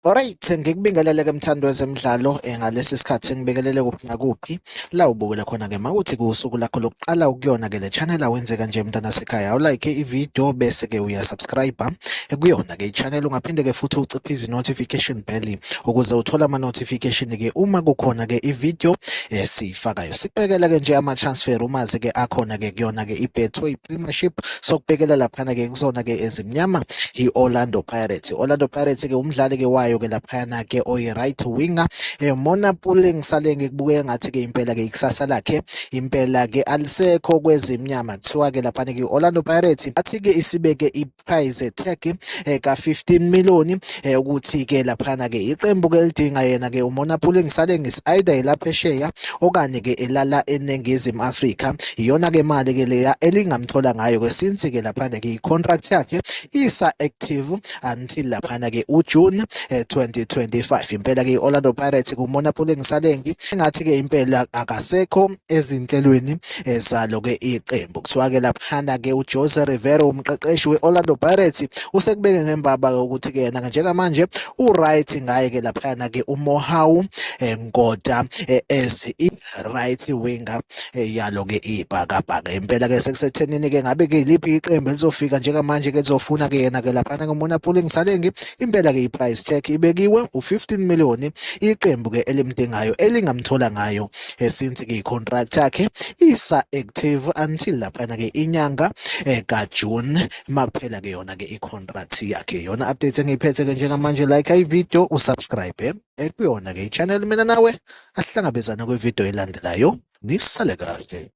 Alright, ngikubingelele ke mthando wezemidlalo eh, ngalesi sikhathi ngibingelele kuphi nakuphi la ubukele khona ke mawuthi kusuku lakho lokuqala ukuyona ke le channel awenzeka nje mntana sekhaya awulike ivideo bese ke uya subscribe eh, kuyona ke ichannel ungaphinde ke futhi uciphe izi notification Belly ukuze uthole ama notification ke uma kukhona ke ivideo esiyifakayo eh, sikubekela ke nje ama transfer uma ke akhona ke kuyona ke iBetway Premiership sokubekela lapha ke kusona ke ezimnyama iOrlando Pirates Orlando Pirates ke umdlali ke wayo ke lapha ke oyi right winger eh, Mona Pule ngisale ngikubuke ngathi ke impela ke ikusasa lakhe impela ke alisekho kwezimnyama kuthiwa ke lapha ke Orlando Pirates athi ke isibeke prize tag eh, ka 15 million eh, ukuthi ke laphana ke iqembu ke lidinga yena ke umona pule ngisale ngis either elapha esheya okanye ke elala eningizimu Africa iyona ke mali ke leya elingamthola ngayo ke since ke laphana ke icontract yakhe isa active until laphana ke uJune 2025 eh, impela ke Orlando Pirates kumona pule ngisalengi engathi ke impela akasekho ezinhlelweni eh, zalo ke iqembu kuthiwa ke laphana ke uJose Rivero umqeqeshi weOrlando Pirates usekubeke ngembaba ukuthi ke yena njengamanje uright ngaye ke laphana ke uMohau eh, Nkoda eh, as i right winger yalo ke ibhakabhaka impela ke sekusethenini ke ngabe ke liphi iqembu elizofika njengamanje ke lizofuna ke yena ke laphana ke uMona Pulling Salengi impela ke iprice tag ibekiwe u15 million iqembu ke elimdingayo elingamthola ngayo eh, since ke contract yakhe isa active until laphana ke inyanga eh, ka June maphela ke yona ke i contract yakhe yona update engiyiphethe ke njengamanje like i video usubscribe eh, kuyona ke i channel mina nawe asihlangabezana kwi video elandelayo nisale kahle